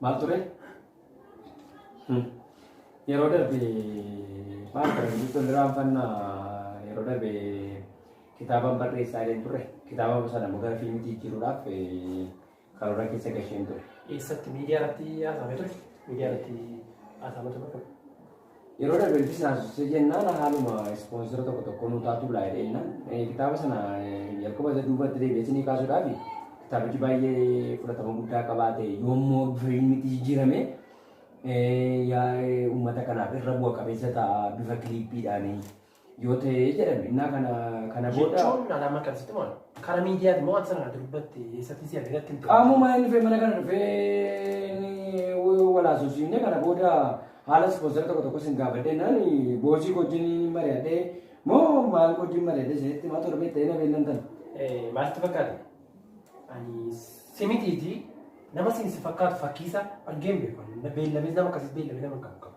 Maal ture? Yeroo darbe maal ture? Jechuun irraanfannaa yeroo darbe kitaabaan barreessaa illee ture. Kitaaba sana immoo gara fiilmiitti jijjiiruudhaaf karoora keessa gasheen ture. Eessatti miidiyaa irratti haasa'ame ture? Miidiyaa irratti haasa'ame ture. Yeroo darbe ilbisi naasisee jennaan haaluma ispoonsera tokko tokko nu taatu laa jedhee jennaan kitaaba sana jalqaba isa duubatti deebi'eesinii kaasuudhaaf kitaabichi baay'ee fudhatama guddaa qabaate yoommoo bifa ilmitti jijjiirame uummata kanaaf irra bu'a qabeessa ta'a bifa kiliippiidhaanii. yoo ta'ee jedhan innaa kana kana booda Jechuun alaamaa kan sitti maal? Karaa miidiyaati moo ati sana durbatti eessatti si argatti hin qaamuma inni dhufee mana kana dhufee inni walaasofsiifne kana booda haala ispoonsara tokko tokko sin gaafadhe naan boosii wajjin mari'adhee moo maal wajjin mari'adhee isinitti maa torbee ta'ee na beellan tan. Eh, Maaltu fakkaata? Ani simitiiti nama siin si fakkaatu fakkiisa argeen beeku. Beellamees nama akkasii beellamee nama qabu qabu.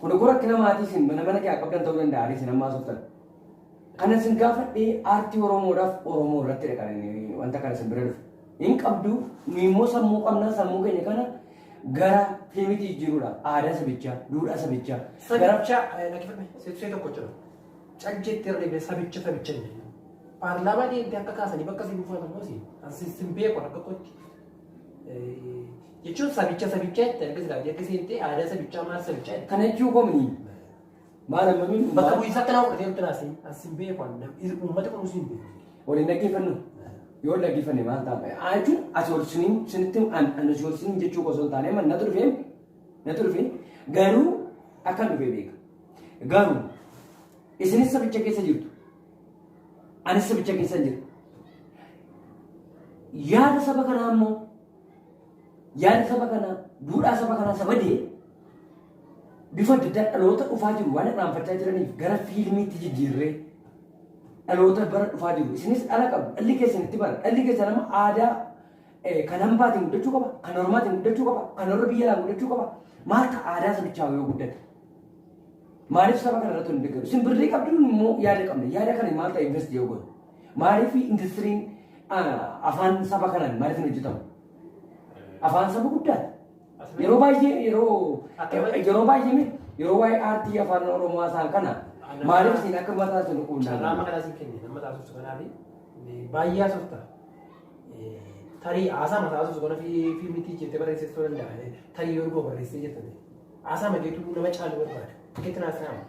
Kun akkuma rakkina maatii isin mana mana kee qabdan ta'uu danda'a ani isin ammaa softan. Kana isin gaafadhee aartii Oromoodhaaf Oromoo irratti dha kan inni wanta kana isin bira dhufu. Hin qabdu nu immoo sammuu qabnaa sammuu keenya kana gara fiilmiitti jijjiiruudha. Aadaa sabichaa, duudhaa sabichaa. Gara Sabicha dhaggeeffadhe sibsee tokko jira. Cal jettee irra deebi'ee sabicha sabicha jedhe. Paarlaamaa deemtee akka kaasanii bakka si buufatan moosi. Ansi sin beeku akka kootti. jechuun sabicha sabicha itti erga silaa erga seentee aadaa sabichaa maal sabichaa itti Kana jechuun komii maal ammamiin bakka bu'iinsa akkanaa fudhatee nutti naasee as hin beeku an uummata kun usiin beeku. waliin dhaggeeffannu yoo dhaggeeffanne maal ta'a haa jechuun asii ol siniin sinitti an an asii ol siniin jechuu osoo hin taane man natu dhufee natu dhufee garuu akkan dhufee beeka garuu isinis sabicha keessa jirtu Anis sabicha keessa hin jiru. Yaada saba kanaa immoo yaada saba kanaa duudhaa saba kanaa saba dee bifa adda addaa dhaloota dhufaa jiru waan irraanfachaa jiraniif gara fiilmiitti jijjiirree dhaloota bara dhufaa jiru. Isinis dhala qabu dhalli keessanitti bara dhalli keessan amma aadaa Kan hambaatiin guddachuu qaba, kan ormaatiin guddachuu qaba, kan warra biyya alaa guddachuu qaba. Maal ta'a aadaa sabichaa yoo guddate? Maaliif saba kana irratti hin deeggaru? Isin birrii qabduun immoo yaada qabna. Yaada kana maal ta'a invest yoo goone? Maaliif industiriin afaan saba kanaan maaliif hin hojjetamu? Afaan saba guddaati. Yeroo baay'ee yeroo yeroo baay'ee miti yeroo waa'ee aartii afaan oromoo haasaan kana maaliif isin akka mataa isin dhukkubnaa? Carraa maqaa isin kenne nama taasisuuf kanaafi baay'ee haasofta. Tarii haasaa mataa osoo gara fiilmiitti jettee barreessee ta'uu danda'a. Tarii yoo barreessee jettee. Haasaa mageetu nama caalu barbaada. Fakkeetti naas ta'ama.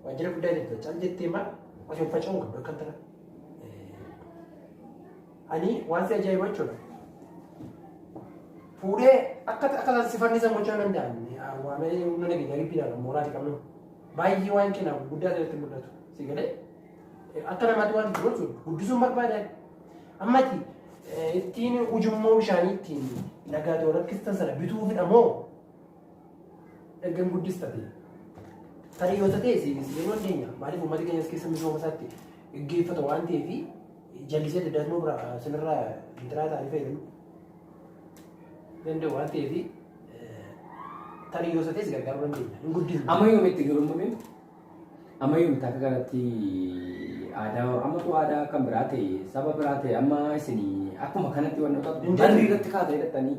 Waajjira guddaa jetta. Cal jettee maal osoo hin faca'uun qabdu akkam tana. Ani waan si ajaa'iba jechuudha. Fuudhee akka akka si fannisan gochuu hin danda'an. Waa malee humna nageenyaa gibbiidhaan mooraa fi qabnu. Baay'ee waan kennaaf guddaa ta'etti mul'atu. Si galee? Akka namaatti waan itti gochuun guddisuun barbaadan ammati ittiin ujummoo bishaanii ittiin dhagaa ta'u rakkistan sana bituufidha moo ergan guddistate tarii yoo ta'e siinis yeroo dandeenya maaliif uummata keenyas keessa misooma isaatti gaggeeffata waan ta'eef jallisee daddaatuma bira sinirraa intiraa ta'anii fayyadamu danda'u waan ta'eef tarii yoo ta'e si gargaaruu dandeenya hin guddisne. Amma yoomitti garuu malee Amma yoom takka kanatti aadaa ammatu aadaa kan biraa ta'e saba biraa ta'e amma isin akkuma kanatti wantoota Hin barri jirre. irratti kaatee dhattanii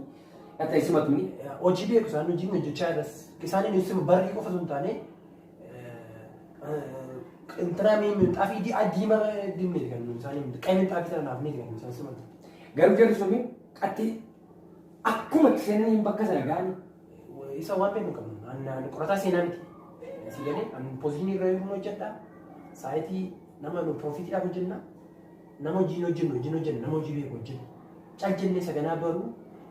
dhatta isimatuni hojii beeku isaan hojii hojjechaa jiras isaaniin ibsuma barrii qofa osoo hin taane intinaa minxaafii diimaa diimaa diimneeti kan nuyi isaanii miti qayyee minxaafii sana naaf miti kan nuyi isaan simatu. garuu jarri suni qatti akkuma itti seenanii bakka sana ga'anii Isa waan beeku qabnu. Annaan qorataa seenaa miti. Asii galee an pozishinii irra yommuu hojjedha. Saayitii nama nu piroofiitiidhaaf hojjenna. Nama hojiin hojjennu hojiin hojjenna nama hojii beeku hojjenna. Cal jennee saganaa baruu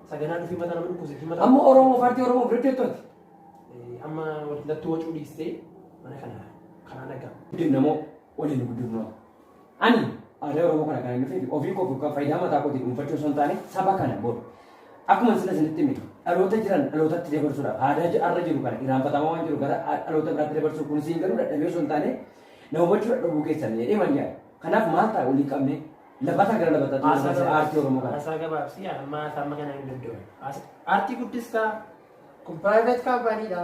saganaa dhufee mataa nama dhukkubsa fi mataa. Amma Oromoo faartii Oromoo hojjettooti. Eh, Amma wallattuu wacuu dhiistee mana kana kanaa nagaa. Guddifna moo waliin guddifna? Ani aadaa Oromoo kana kan hin dhufeef ofii koof yookaan faayidaa mataa kootiin dhuunfachuu osoo hin taane saba kana booda. Akkuma sila isinitti hime dhaloota jiran dhalootatti dabarsuudhaaf aadaa ji- har'a jiru kana irraanfatamaa waan jiru gara a- dhaloota biraatti dabarsuu kun siin garuu dadhabee osoo hin taane na hubachuu dadhabuu keessan jedhee man yaada. Kanaaf maal ta'a walii qabne labataa gara labataa Haasaa ta'uu aartii Oromoo kana. Haasaa gabaabsii amma haasaa amma kana hin danda'u. Aartii guddistaa kun private company dha.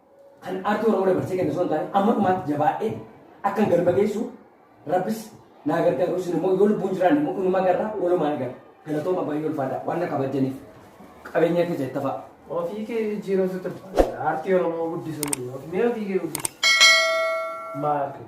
Kan aartii Oromoo dabarsee kennu osoo hin taane amma dhumaatti jabaadhee akkan galma geessu rabbis naa gargaaru isin immoo yoo lubbuun jiraan immoo inuma garraa walumaan gara galatooma baay'ee ulfaadha waan na kabajaniif qabeenya keessa itti fa'a. Ofii kee jijjiiramtu turte. Aartii Oromoo guddisuu yookiin mee ofii kee guddisi. Maal kee?